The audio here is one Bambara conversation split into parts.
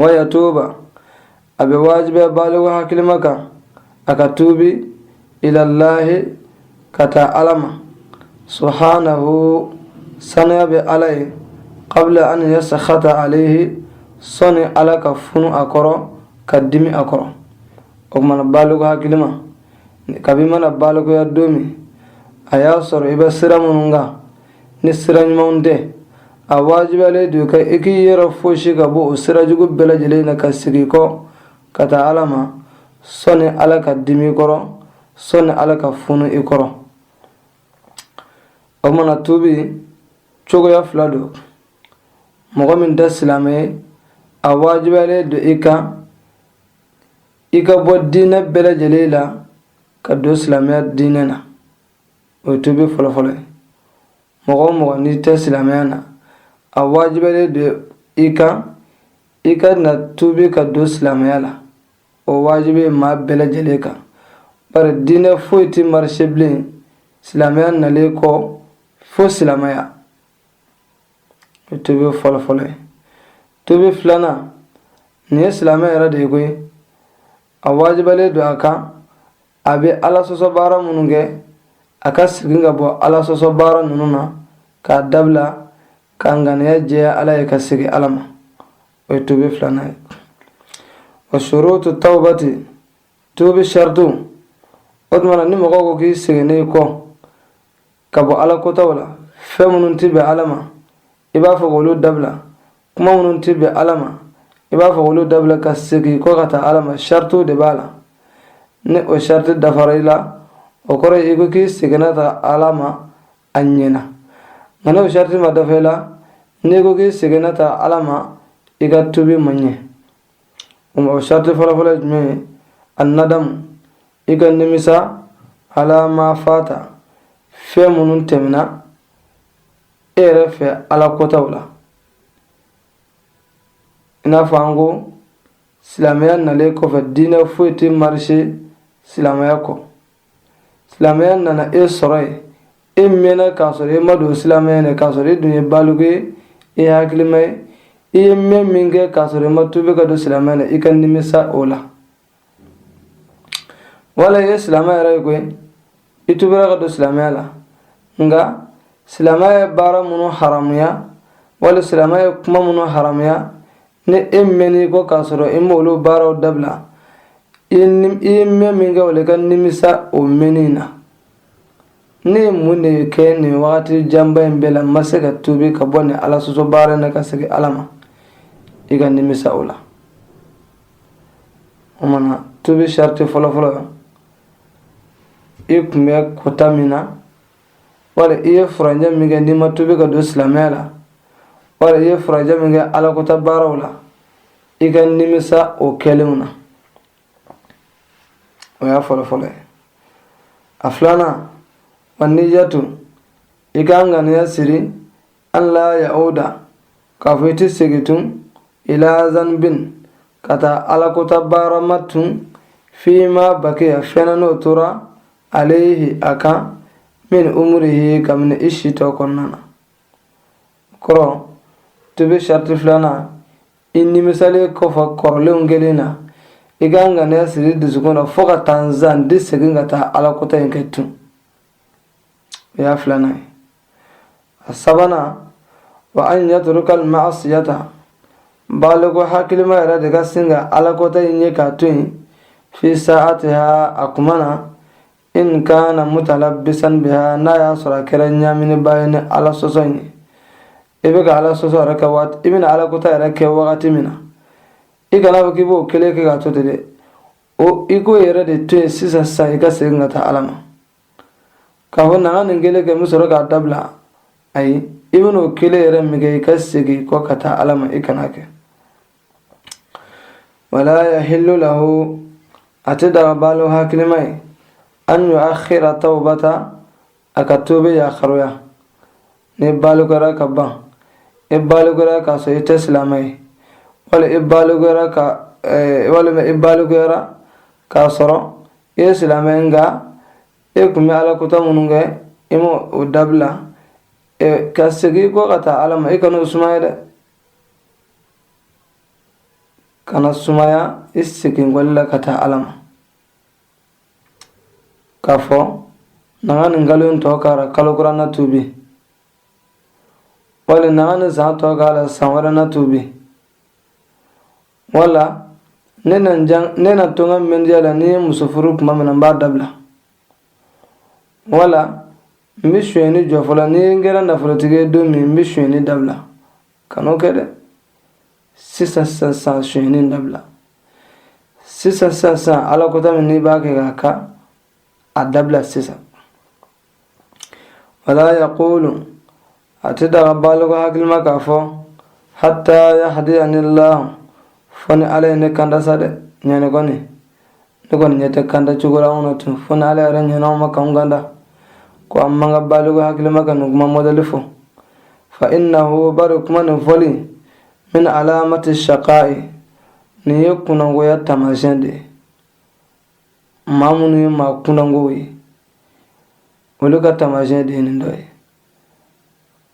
wa yatuba a bɛ wajibiya baliku hakilima kan a ka tuubi ilallahi ka taa ala ma subhanahu saniya bɛ ala ye qabla an yaskhata alayhi sɔni ala ka funu a kɔrɔ ka dimi a kɔrɔ o tuma na baliku hakilima kabi mana balikuya don min a y'a sɔrɔ i bɛ sira minnu kan ni sira ɲumanw tɛ a wajibiyalen don i kan i k'i yɛrɛ fosi ka bɔ o sira jugu bɛɛ lajɛlen na ka segin kɔ ka taa ala ma sɔni ala ka dimi i kɔrɔ sɔni ala ka funu i kɔrɔ o tuma na tubi cogoya fila don mɔgɔ min tɛ silamɛ ye a wajibiyalen don i kan i ka bɔ diinɛ bɛɛ lajɛlen la ka don silamɛya diinɛ na o ye tubi fɔlɔfɔlɔ ye mɔgɔ o mɔgɔ n'i tɛ silamɛya na a wajibiyalen don i kan i ka na tubi ka don silamɛya la o wajibi ye maa bɛɛ lajɛlen kan bari diinɛ foyi tɛ marise bilen silamɛya nalen kɔ fo silamɛya o ye tubi fɔlɔfɔlɔ ye tubi filanan nin ye silamɛ yɛrɛ de ye koyi a wajibiyalen don a kan a bɛ ala sɔsɔ baara minnu kɛ a ka segin ka bɔ ala sɔsɔ baara ninnu na k'a dabila ka ŋaniya jɛya ala ye ka segin ala ma o ye tubi filanan ye wa shurutu tawbati tubi saritiw o tuma na ni mɔgɔ ko k'i seginnen kɔ ka bɔ ala kotaw la fɛn minnu tɛ bɛn ala ma i b'a fɔ k'olu dabila kuma minnu tɛ bɛn ala ma i b'a fɔ k'olu dabila ka segin kɔ ka taa ala ma saritiw de b'a la ni o sariti dafara i la o kɔrɔ ye i ko k'i seginna taa ala ma a ɲɛna nka n'o sariti ma dafa i la n'i ko k'i seginna taa ala ma i ka tubi man ɲɛ o sariti fɔlɔfɔlɔ ye jumɛn ye annadamu i ka nimisa ala ma fata fɛn minnu tɛmɛna e yɛrɛ fɛ ala kotaw la i n'a fɔ an ko silamɛya nalen kɔfɛ diinɛ foyi tɛ marise silamɛya kɔ silamɛya nana e sɔrɔ yen e mɛnna k'a sɔrɔ e ma don silamɛya na k'a sɔrɔ e dun ye baliku ye e ye hakilima ye i ye mɛn min kɛ k'a sɔrɔ i ma tubi ka don silamɛya na i ka nimisa o la wala i ye silamɛ yɛrɛ ye koyi i tubira ka don silamɛya la nka silamɛya ye baara minnu haramuya wali silamɛya ye kuma minnu haramuya ni e mɛnni kɔ k'a sɔrɔ i m'olu baaraw dabila i ye mɛn min kɛ o la i ka nimisa o mɛnni na ne ye mun de kɛ nin wagati janba in bɛɛ la n ma se ka tubi ka bɔ nin ala sɔsɔ baara in na ka segin ala ma i ka nimisa o la o mana tubi sharti fɔlɔfɔlɔ i tun bɛ kota min na wala i ye furancɛ min kɛ n'i ma tubi ka don silamɛya la wala i ye furancɛ min kɛ alakota baaraw la i ka nimisa o kɛlenw na o y'a fɔlɔfɔlɔ ye a filanan wa niyatu i ka ŋaniya siri an la ya'uda k'a fɔ i tɛ segin tun ila zanbin ka taa alakota baara ma tun fima bakiya fɛnna n'o tora alayhi a kan min umurihi kabini i si tɔ kɔnɔna na kɔrɔ tubi sharti filanan i nimisalen kɔfɛ kɔrɔlenw kɛlen na i ka ŋaniya siri dusukun na fo ka taa n sa n tɛ segin ka taa alakota in kɛ tun o y'a filanan ye sabanan wa an yatruka al-ma'siyata baliku hakilima yɛrɛ de ka sin ka alakota in ye k'a to yen fi sa'atiha a kuma na in kana mutalabbisan biha n'a y'a sɔrɔ a kɛra ɲaaminibaa ye ni ala sɔsɔ in ye i bɛ ka ala sɔsɔ yɛrɛ kɛ waati i bɛna ala kota yɛrɛ kɛ wagati min na i kana fɔ k'i b'o kelen kɛ k'a to ten dɛ o i k'o yɛrɛ de to yen sisan sisan i ka segin ka taa ala ma k'a fɔ na n ka nin kelen kɛ n bɛ sɔrɔ k'a dabila ayi i bɛn'o kelen yɛrɛ min kɛ i ka segin kɔ ka taa ala ma i kan'a kɛ wala yahillu lahu a tɛ daga baliku hakilima ye an yuakhira tawbata a ka tubi yakharuya n'i balikura ka ban i balikura k'a sɔrɔ i tɛ silamɛ ye wali i balikura ka walima i balikura k'a sɔrɔ i ye silamɛ nka e kun bɛ ala kota minnu kɛ i ma o dabila ka segin kɔ ka taa ala ma i kana o sumaya dɛ kana sumaya i segin kɔli la ka taa ala ma k'a fɔ na ka nin kalo in tɔ kara kalo kura na tubi wali na ka nin san tɔ k'a la san wɛrɛ na tubi wala ne na jan ne na to n ka mɛndiya la ni n ye muso furu tuma min na n b'a dabila wala n bɛ sonyɛni jɔ fɔlɔ ni n kɛra nafolotigi ye don min n bɛ sonyɛni dabila kan'o kɛ dɛ sisan sisan sisan sonyɛni dabila sisan sisan sisan ala kota min n'i b'a kɛ k'a ka a dabila sisan wala yaqulu a ti daga baliku hakilima k'a fɔ hatta yahdiyani allah fo ni ala ye ne kanda sa dɛ ɲɛnɛ kɔni ne kɔni ɲɛ tɛ kanda cogo la anw na tun fo ni ala yɛrɛ ɲɛna anw ma k'anw kanda ko a man kan baliku hakilima ka nin kuma mɔdɛli fɔ fa innahu bari kuma nin fɔli min alamati shaqa'i nin ye kunangoya taamasiyɛn de ye maa minnu ye maa kunangow ye olu ka taamasiyɛn de ye nin dɔ ye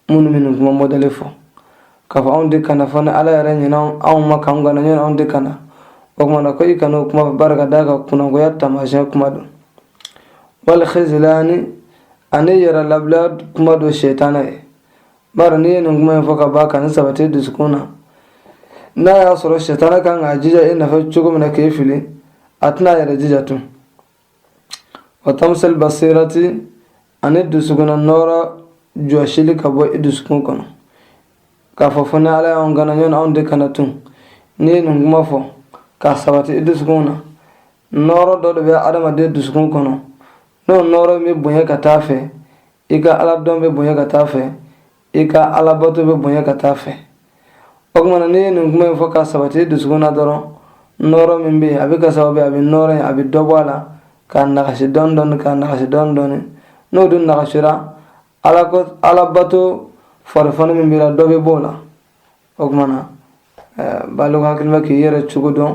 minnu bɛ nin kuma mɔdɛli fɔ k'a fɔ anw tɛ kanda fo ni ala yɛrɛ ɲɛna anw ma k'an kanda ɲɔni anw tɛ kanda o tuma na ko i kana o kuma fɔ bari ka d'a kan kunangoya taamasiyɛn kuma don wal khizlani ani yɛrɛ labila kuma don sɛtana ye bari n'i ye nin kuma in fɔ ka ban ka nin sabati dusukun na n'a y'a sɔrɔ sitana kan k'a jija e nɔfɛ cogo min na k'e fili a tɛna a yɛrɛ jija tun wa tamsil basirati ani dusukunna nɔɔrɔ jɔsili ka bɔ i dusukun kɔnɔ k'a fɔ fo ni ala y'anw kanda ɲɔni anw tɛ kanda tun n'i ye nin kuma fɔ k'a sabati i dusukun na nɔɔrɔ dɔ de bɛ adamaden dusukun kɔnɔ n'o nɔɔrɔ bɛ bonya ka taa fɛ i ka ala dɔn bɛ bonya ka taa fɛ i ka ala bato bɛ bonya ka taa fɛ o tumana n'i ye nin kuma in fɔ k'a sabati i dusukun na dɔrɔn nɔɔrɔ min bɛ yen a bɛ kɛ sababu ye a bɛ nɔɔrɔ in a bɛ dɔ bɔ a la k'a nagasi dɔɔni dɔɔni k'a nagasi dɔɔni dɔɔni n'o dun nagasira ala ko ala bato farifoni min b'i la dɔ bɛ bɔ o la o tumana ɛɛ baliku hakilima k'i yɛrɛ cogo dɔn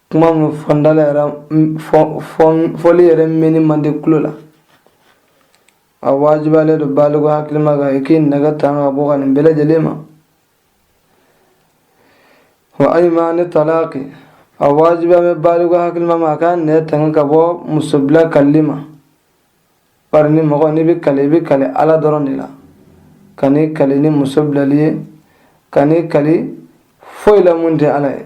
kuma min fɔ n da la yɛrɛ fɔli yɛrɛ mɛnni man di kulo la a wajibiyalen don baliku hakilima kan i k'i nɛn tanga ka bɔ kan nin bɛɛ lajɛlen ma wa aymani talaqi a wajibiyalen bɛ baliku hakilima ma a k'a nɛn tanga ka bɔ muso bila kalili ma bari ni mɔgɔ n'i bɛ kali i bɛ kali ala dɔrɔn de la kan'i kali ni muso bilali ye kan'i kali foyi la min tɛ ala ye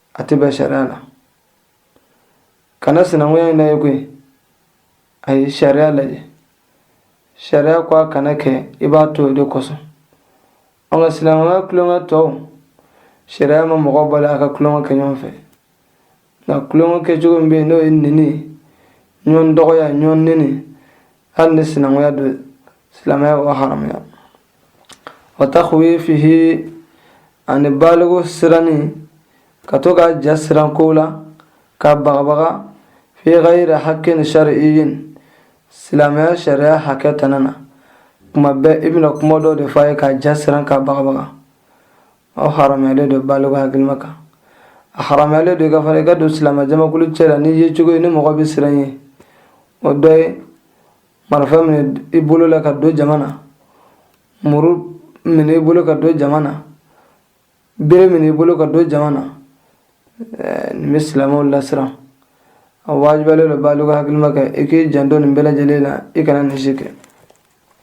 a tɛ bɛn sariya la kana sinankunya in lajɛ koyi a ye sariya lajɛ sariya ko a kana kɛ i b'a to o de kosɔn an ka sinankunya tulonkɛ tɔw sariya ma mɔgɔ bali a ka tulonkɛ kɛ ɲɔgɔn fɛ nka tulonkɛ kɛcogo min bɛ yen n'o ye neni ye ɲɔgɔn dɔgɔya ɲɔgɔn neni hali ni sinankunya don silamɛya b'o haramuya wa takhwifihi ani baliku siranni ka to k'a ja siran kow la k'a bagabaga fi ghayri haqqin shar'iyyin silamɛya sariya hakɛ tana na kuma bɛɛ i bɛna kuma dɔ de fɔ a ye k'a ja siran k'a bagabaga a haramuyalen don baliku hakilima kan a haramuyalen don i kan fana i ka don silamɛjamakulu cɛ la ni yecogo ye ni mɔgɔ bɛ siran ye o dɔ ye marifa minɛ i bolo la ka don jama na muru minɛ i bolo ka don jama na bere minɛ i bolo ka don jama na nin bɛ silamɛw lasiran a wajibiyalen don baliku hakilima kan i k'i janto nin bɛɛ lajɛlen na i kana nin si kɛ